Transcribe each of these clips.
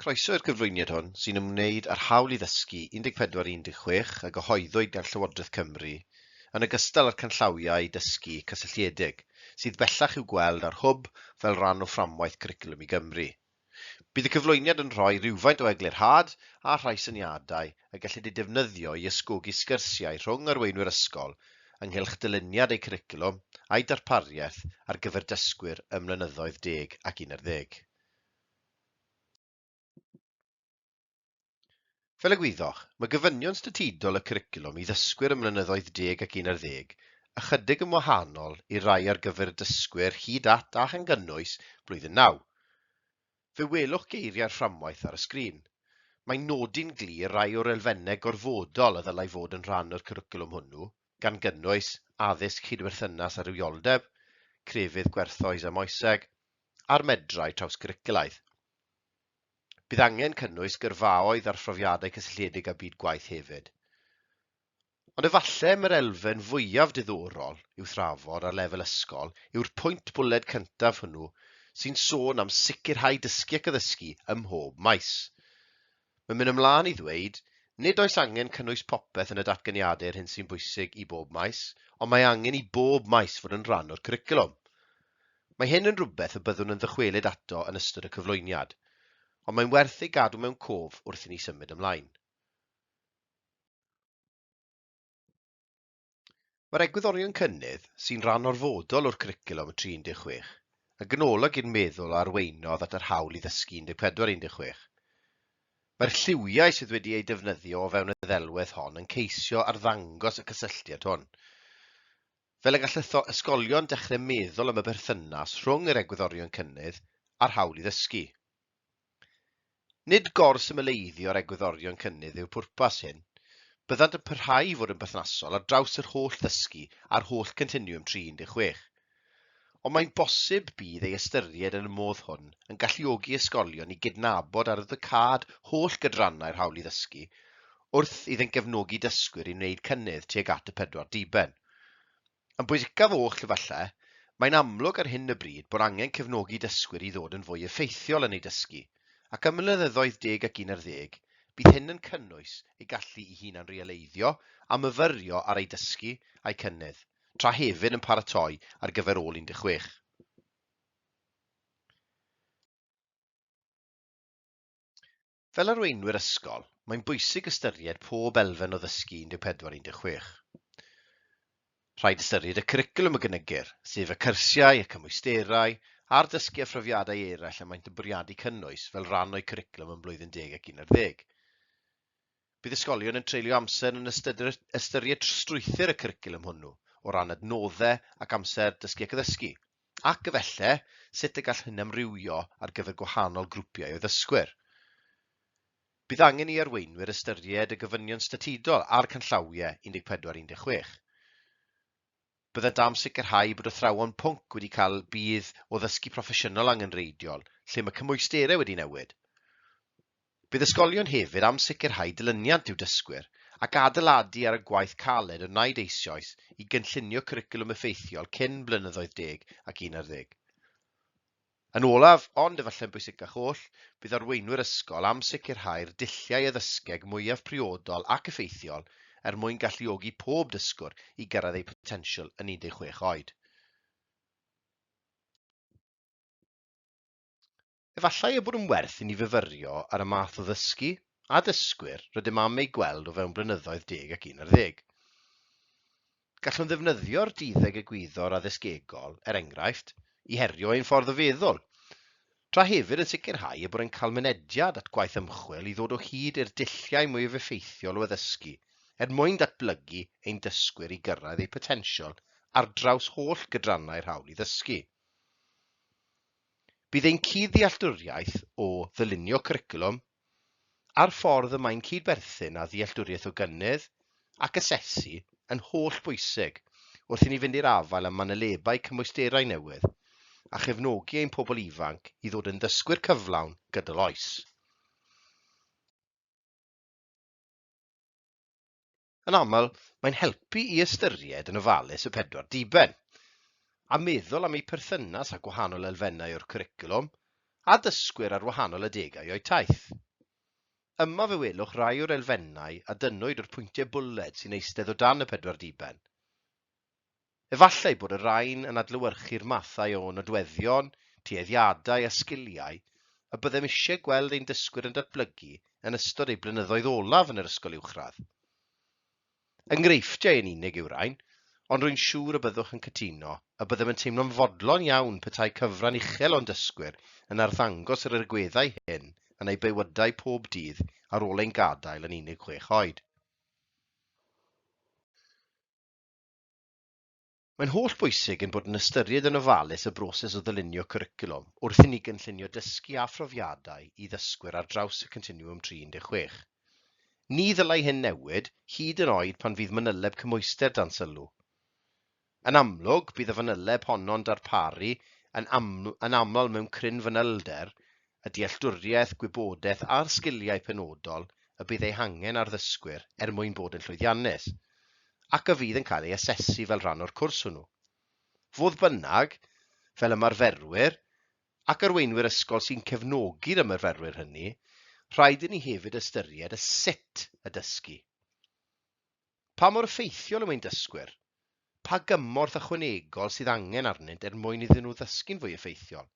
Croeso i'r cyflwyniad hwn, sy'n ymwneud â'r hawl i ddysgu 14 i 16 a gyhoeddwyd gan Llywodraeth Cymru, yn ogystal â'r canllawiau dysgu cysylltiedig, sydd bellach i'w gweld ar Hwb fel rhan o fframwaith Cwricwlwm i Gymru. Bydd y cyflwyniad yn rhoi rhywfaint o eglurhad a rhai syniadau y gellid eu defnyddio i ysgogi sgyrsiau rhwng arweinwyr ysgol ynghylch dyluniad eu cwricwlwm a'u darpariaeth ar gyfer dysgwyr ym mlynyddoedd deg ac un ar ddeg. Fel y gwyddoch, mae gofynion statudol y cwricwlwm i ddysgwyr ym mlynyddoedd deg ac un ar ddeg ychydig yn wahanol i'r rhai ar gyfer y dysgwyr hyd at a chan gynnwys blwyddyn naw. Fe welwch geiriau'r fframwaith ar y sgrin. Mae'n nodi'n glir rai o'r elfennau gorfodol a ddylai fod yn rhan o'r cwricwlwm hwnnw, gan gynnwys, addysg cydwerthynas a rhywioldeb, crefydd gwerthoes a moeseg, a'r medrau trawsgwricwlaidd. Bydd angen cynnwys gyrfaoedd ar phrofiadau cysylltiedig â byd gwaith hefyd. Ond efallai mae'r elfen fwyaf diddorol i'w thrafod ar lefel ysgol yw'r pwynt bwled cyntaf hwnnw sy'n sôn am sicrhau dysgu ac addysgu ym mhob maes. Mae'n mynd ymlaen i ddweud, nid oes angen cynnwys popeth yn y datganiadau yr hyn sy'n bwysig i bob maes, ond mae angen i bob maes fod yn rhan o'r cwricwlwm. Mae hyn yn rhywbeth y byddwn yn ddychwelyd ato yn ystod y cyflwyniad, ond mae'n werth ei gadw mewn cof wrth i ni symud ymlaen. Mae'r egwyddorion cynnydd, sy'n rhan orfodol o'r Cwricwlwm y Tri 16, yn ganolog i'r meddwl a arweinodd at yr hawl i ddysgu 14 16. Mae'r lliwiau sydd wedi eu defnyddio o fewn y ddelwedd hon yn ceisio arddangos y cysylltiad hwn. Fel y gall ytho ysgolion dechrau meddwl am y berthynas rhwng yr egwyddorion cynnydd a'r hawl i ddysgu. Nid gor-symleiddio'r egwyddorion cynnydd yw pwrpas hyn, byddant yn parhau i fod yn berthnasol ar draws yr holl ddysgu a'r holl Continwwm 36. Ond mae'n bosib bydd ei ystyried yn y modd hwn yn galluogi ysgolion i gydnabod ar ddcâd holl gydrannau'r hawl i ddysgu wrth iddynt gefnogi dysgwyr i wneud cynnydd tuag at y pedwar diben. Yn bwysicaf oll, efallai, mae'n amlwg ar hyn o bryd bod angen cefnogi dysgwyr i ddod yn fwy effeithiol yn eu dysgu, ac ym mlynyddoedd deg ac un ar ddeg, bydd hyn yn cynnwys eu gallu i hunan-realeiddio a myfyrio ar eu dysgu a'u cynnydd, tra hefyd yn paratoi ar gyfer ôl 16. Fel arweinwyr ysgol, mae'n bwysig ystyried pob elfen o ddysgu 14 16. Rhaid ystyried y cwricwlwm y gynigir, sef y cyrsiau, y cymwysterau, a'r dysgu a phrofiadau eraill y maent yn bwriadu cynnwys fel rhan o'u cwricwlwm yn Blwyddyn Deg ac Un ar Ddeg. Bydd ysgolion yn treulio amser yn ystyr- ystyried strwythyr y cwricwlwm hwnnw o ran adnoddau ac amser dysgu ac addysgu, ac, efallai, sut y gall hyn amrywio ar gyfer gwahanol grwpiau o ddysgwyr. Bydd angen i arweinwyr ystyried y gofynion statudol a'r canllawiau 14 a 16. Byddant am sicrhau bod athrawon pwnc wedi cael budd o ddysgu proffesiynol angenrheidiol lle mae cymwysterau wedi newid. Bydd ysgolion hefyd am sicrhau dilyniant i'w dysgwyr ac adeiladu ar y gwaith caled a wnaed eisioes i gynllunio cwricwlwm effeithiol cyn blynyddoedd deg ac un ar ddeg. Yn olaf, ond efallai'n bwysicach oll, bydd arweinwyr ysgol am sicrhau'r dulliau addysgeg mwyaf priodol ac effeithiol er mwyn galluogi pob dysgwr i gyrraedd eu potensial yn 16 oed. Efallai ei bod yn werth i ni fyfyrio ar y math o ddysgu a dysgwyr rydym am eu gweld o fewn blynyddoedd deg ac un ar ddeg. Gallwn ddefnyddio'r duddeg egwyddor addysgegol, er enghraifft, i herio ein ffordd o feddwl, tra hefyd yn sicrhau y byddai'n cael mynediad at gwaith ymchwil i ddod o hyd i'r dulliau mwyaf effeithiol o addysgu er mwyn datblygu ein dysgwyr i gyrraedd eu potensial ar draws holl gydrannau'r hawl i ddysgu. Bydd ein cudd-ddealltwriaeth o ddylunio cwricwlwm, a'r ffordd y mae'n cyd-berthyn â ddealltwriaeth o gynnydd ac asesu yn holl bwysig wrth i ni fynd i'r afael â manylebau cymwysterau newydd a chefnogi ein pobl ifanc i ddod yn ddysgwyr cyflawn gydol oes. Yn aml, mae'n helpu i ystyried yn ofalus y pedwar diben, a meddwl am eu perthynas â gwahanol elfennau o'r cwricwlwm a dysgwyr ar wahanol adegau o'u taith. Yma fe welwch rai o'r elfennau a dynnwyd o'r pwyntiau bwled sy'n eistedd o dan y pedwar diben. Efallai bod y rhain yn adlewyrchu'r mathau o nodweddion, tueddiadau a sgiliau y byddem eisiau gweld ein dysgwyr yn datblygu yn ystod eu blynyddoedd olaf yn yr ysgol uwchradd. Enghreifftiau yn unig yw'r rhain, ond rwy'n siŵr y byddwch yn cytuno y byddem yn teimlo'n fodlon iawn petai cyfran uchel o'n dysgwyr yn arddangos yr agweddau hyn yn eu bywydau pob dydd ar ôl ein gadael yn unig chwech oed. Mae'n holl bwysig ein bod yn ystyried yn ofalus y broses o ddylunio cwricwlwm wrth i ni gynllunio dysgu a phrofiadau i ddysgwyr ar draws y Continwwm 36. Ni ddylai hyn newid, hyd yn oed pan fydd manyleb cymhwyster dan sylw. Yn amlwg, bydd y fanyleb honno'n darparu yn aml yn aml mewn cryn fanylder a dealltwriaeth, gwybodaeth a'r sgiliau penodol y bydd eu hangen ar ddysgwyr er mwyn bod yn llwyddiannus, ac a fydd yn cael ei asesu fel rhan o'r cwrs hwnnw. Fodd bynnag, fel ymarferwyr, ac arweinwyr ysgol sy'n cefnogi'r ymarferwyr hynny, rhaid i ni hefyd ystyried y sut y dysgu. Pa mor effeithiol yw ein dysgwyr? Pa gymorth ychwanegol sydd angen arnynt er mwyn iddyn nhw ddysgu'n fwy effeithiol?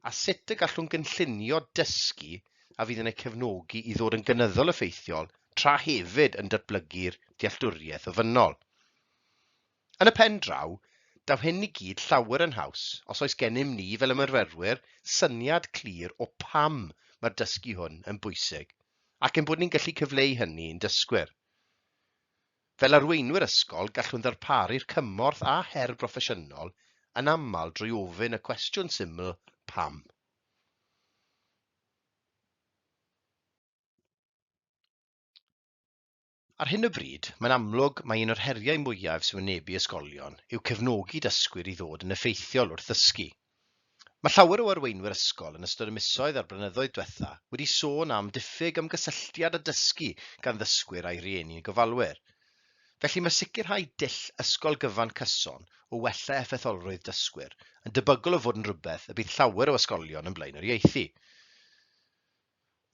a sut y gallwn gynllunio dysgu a fydd yn eu cefnogi i ddod yn gynyddol effeithiol tra hefyd yn datblygu'r dealltwriaeth ofynnol. Yn y pen draw, daw hyn i gyd llawer yn haws os oes gennym ni fel ymarferwyr syniad clir o pam mae'r dysgu hwn yn bwysig ac ein bod ni'n gallu cyfleu hynny i'n dysgwyr. Fel arweinwyr ysgol, gallwn ddarparu'r cymorth a her broffesiynol yn aml drwy ofyn y cwestiwn syml 'Pam? Ar hyn o bryd, mae'n amlwg mai un o'r heriau mwyaf sy'n wynebu ysgolion yw cefnogi dysgwyr i ddod yn effeithiol wrth ddysgu. Mae llawer o arweinwyr ysgol yn ystod y misoedd a'r blynyddoedd diwetha' wedi sôn am ddiffyg ymgysylltiad a dysgu gan ddysgwyr a'u rhieni yn gofalwyr. Felly mae sicrhau dull ysgol gyfan cyson o wella effeitholrwydd dysgwyr yn debygol o fod yn rhywbeth y bydd llawer o ysgolion yn blaenoriaethu.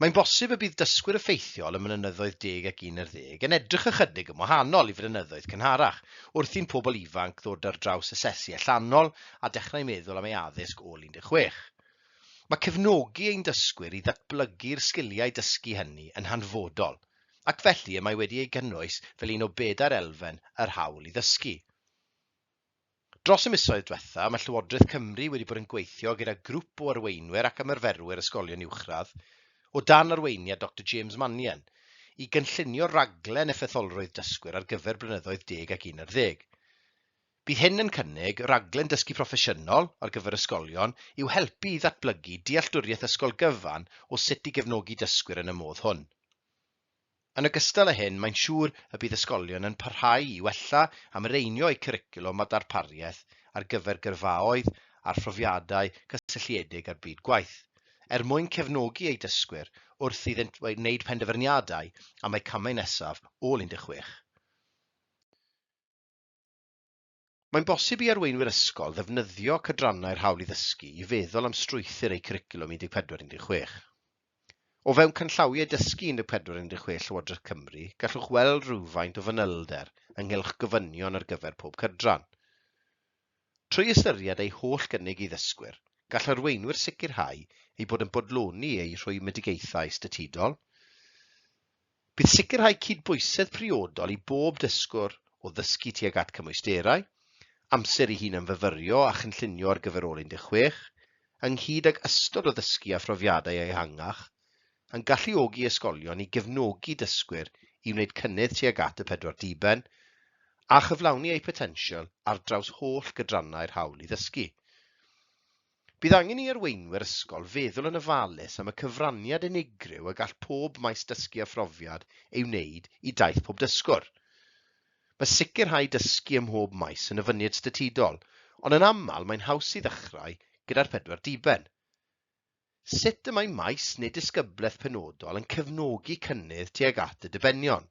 Mae'n bosib y bydd dysgwyr effeithiol ym Mynyddoedd Deg ac Un ar Ddeg yn edrych ychydig yn wahanol i flynyddoedd cynharach, wrth i'n pobl ifanc ddod ar draws asesu allanol a dechrau meddwl am ei addysg ôl 16. Mae cefnogi ein dysgwyr i ddatblygu'r sgiliau dysgu hynny yn hanfodol, ac felly y mae wedi ei gynnwys fel un o bedair elfen yr hawl i ddysgu. Dros y misoedd diwethaf, mae Llywodraeth Cymru wedi bod yn gweithio gyda grŵp o arweinwyr ac ymarferwyr ysgolion uwchradd, o dan arweiniad Doctor James Mannion, i gynllunio rhaglen effeitholrwydd dysgwyr ar gyfer blynyddoedd deg ac un ar ddeg. Bydd hyn yn cynnig rhaglen dysgu proffesiynol ar gyfer ysgolion i'w helpu i ddatblygu dealltwriaeth ysgol gyfan o sut i gefnogi dysgwyr yn y modd hwn. Yn ogystal â hyn, mae'n siŵr y bydd ysgolion yn parhau i wella a mireinio eu cwricwlwm a darpariaeth ar gyfer gyrfaoedd â phrofiadau cysylltiedig â'r byd gwaith, er mwyn cefnogi eu dysgwyr wrth iddynt wneud penderfyniadau am eu camau nesaf ôl 16. Mae'n bosib i arweinwyr ysgol ddefnyddio cydrannau'r Hawl i Ddysgu i feddwl am strwythur eu cwricwlwm 14 16. O fewn Canllawiau Dysgu 14 16 Llywodraeth Cymru gallwch weld rhywfaint o fanylder ynghylch gofynion ar gyfer pob cydran. Trwy ystyried eu holl gynnig i ddysgwyr, gall arweinwyr sicrhau eu bod yn bodloni eu rhwymedigaethau statudol, Bydd sicrhau cydbwysedd priodol i bob dysgwr o ddysgu tuag at cymwysterau, amser i hunanfyfyrio a chynllunio ar gyfer ôl 16, ynghyd ag ystod o ddysgu a phrofiadau ehangach, yn galluogi ysgolion i gefnogi dysgwyr i wneud cynnydd tuag at y pedwar diben, a chyflawni eu potensial ar draws holl gydrannau'r hawl i ddysgu. Bydd angen i arweinwyr ysgol feddwl yn ofalus am y cyfraniad unigryw y gall pob maes dysgu a phrofiad ei wneud i daith pob dysgwr. Mae sicrhau dysgu ym mhob maes yn ofyniad statudol, ond yn aml mae'n haws i ddechrau gyda'r pedwar diben. Sut y mae maes neu disgyblaeth penodol yn cefnogi cynnydd tuag at y dibenion?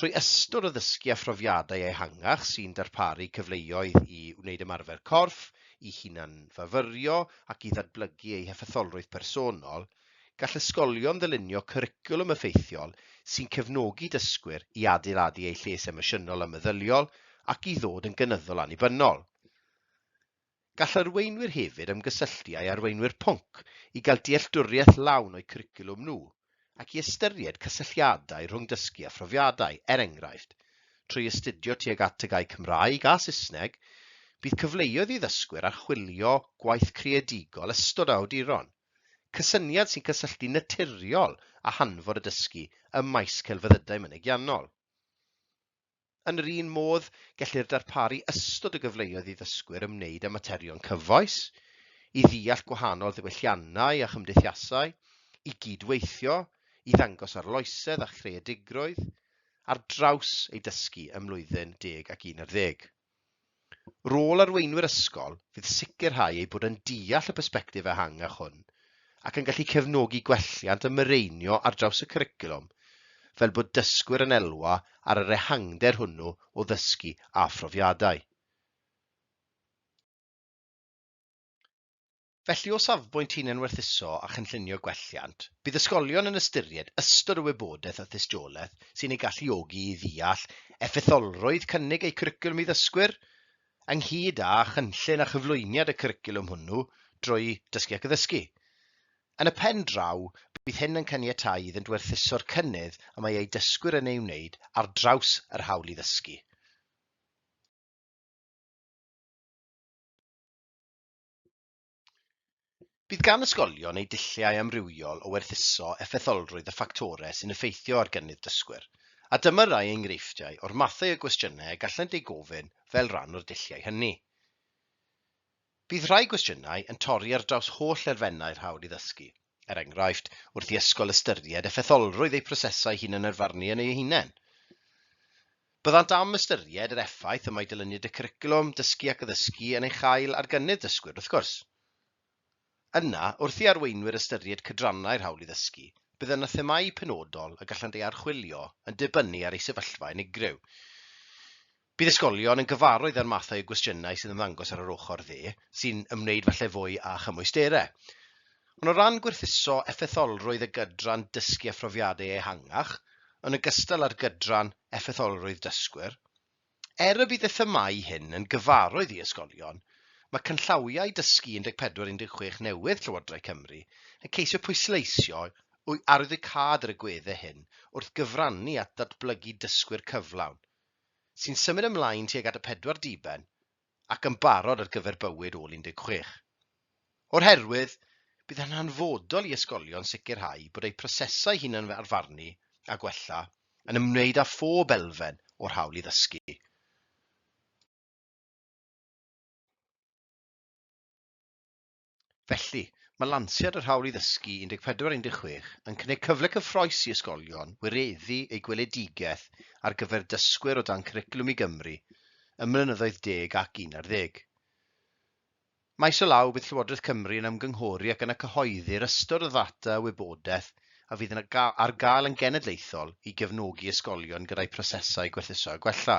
Trwy ystod o ddysgu a phrofiadau ehangach sy'n darparu cyfleoedd i wneud ymarfer corff, i hunan-fyfyrio ac i ddadblygu eu heffetholrwydd personol, gall ysgolion ddylunio cwricwlwm effeithiol sy'n cefnogi dysgwyr i adeiladu eu lles emosiynol a meddyliol ac i ddod yn gynyddol annibynnol. Gall arweinwyr hefyd ymgysylltu â'i arweinwyr pwnc i gael dealltwriaeth lawn o'u cwricwlwm nhw ac i ystyried cysylltiadau rhwng dysgu a phrofiadau, er enghraifft, trwy astudio tuag at y gae Cymraeg a Saesneg, bydd cyfleoedd i ddysgwyr archwilio gwaith creadigol ystod o awduron, cysyniad sy'n cysylltu'n naturiol â hanfod y dysgu ym maes celfyddydau mynegiannol. Yn yr un modd, gellir darparu ystod o gyfleoedd i ddysgwyr ymwneud â materion cyfoes, i ddeall gwahanol ddiwylliannau a chymdeithasau, i gyd-weithio, i ddangos arloesedd a chreadigrwydd, ar draws eu dysgu ym mlwyddyn deg ac un ar ddeg. Rôl arweinwyr ysgol fydd sicrhau eu bod yn deall y persbectif ehangach hwn ac yn gallu cefnogi gwelliant a mireinio ar draws y cwricwlwm fel bod dysgwyr yn elwa ar yr ehangder hwnnw o ddysgu a phrofiadau. Felly, o safbwynt hunanwerthuso a chynllunio gwelliant, bydd ysgolion yn ystyried ystod o wybodaeth a thystiolaeth sy'n eu galluogi i ddeall effeitholrwydd cynnig eu cwricwlwm i ddysgwyr, ynghyd â chynllun a chyflwyniad y cwricwlwm hwnnw drwy Dysgu ac Addysgu. Yn y pen draw, bydd hyn yn caniatáu iddynt werthuso'r cynnydd y mae eu dysgwyr yn ei wneud ar draws yr hawl i ddysgu. Bydd gan ysgolion eu dulliau amrywiol o werthuso effetholrwydd y ffactorau sy'n effeithio ar gynnydd dysgwyr, a dyma rai enghreifftiau o'r mathau o gwestiynau y gallant eu gofyn fel rhan o'r dulliau hynny. Bydd rhai gwestiynau yn torri ar draws holl elfennau'r hawl i ddysgu, Er enghraifft, wrth i ysgol ystyried effetholrwydd eu prosesau hunanyrfarnu yn eu hunain. Byddant am ystyried yr effaith y mae dilyniad y cwricwlwm, dysgu ac addysgu yn ei chael ar gynnydd dysgwyr, wrth gwrs. Yna, wrth i arweinwyr ystyried cydrannau'r hawl i ddysgu, bydd yna themâu penodol y gallant eu harchwilio yn dibynnu ar eu sefyllfa unigryw. Bydd ysgolion yn gyfarwydd â'r mathau o gwestiynau sy'n ymddangos ar yr ochr dde, sy'n ymwneud falle fwy â chymwysterau. Ond o ran gwerthuso effetholrwydd y gydran dysgu a phrofiadau ehangach, yn ogystal â'r gydran effetholrwydd dysgwyr, er y bydd y themâu hyn yn gyfarwydd i ysgolion, mae canllawiau dysgu 14 16 newydd Llywodraeth Cymru yn ceisio pwysleisio arwyddocâd yr agweddau hyn wrth gyfrannu at ddatblygu dysgwyr cyflawn, sy'n symud ymlaen tuag at y pedwar diben ac yn barod ar gyfer bywyd ôl 16. O'r herwydd, bydd yn hanfodol i ysgolion sicrhau bod eu prosesau hunan-arfarnu a gwella yn ymwneud â phob elfen o'r hawl i ddysgu. Felly, mae lansiad yr Hawl i Ddysgu 1416 yn cynnig cyfle cyffrous i ysgolion wireddu eu gweledigaeth ar gyfer dysgwyr o dan Cwricwlwm i Gymru ym mlynyddoedd deg ac un ar ddeg. Maes o law, bydd Llywodraeth Cymru yn ymgynghori ac yna cyhoeddi'r ystod o ddata a wybodaeth a fydd yn ar gael yn genedlaethol i gefnogi ysgolion gyda'u prosesau gwerthuso a gwella.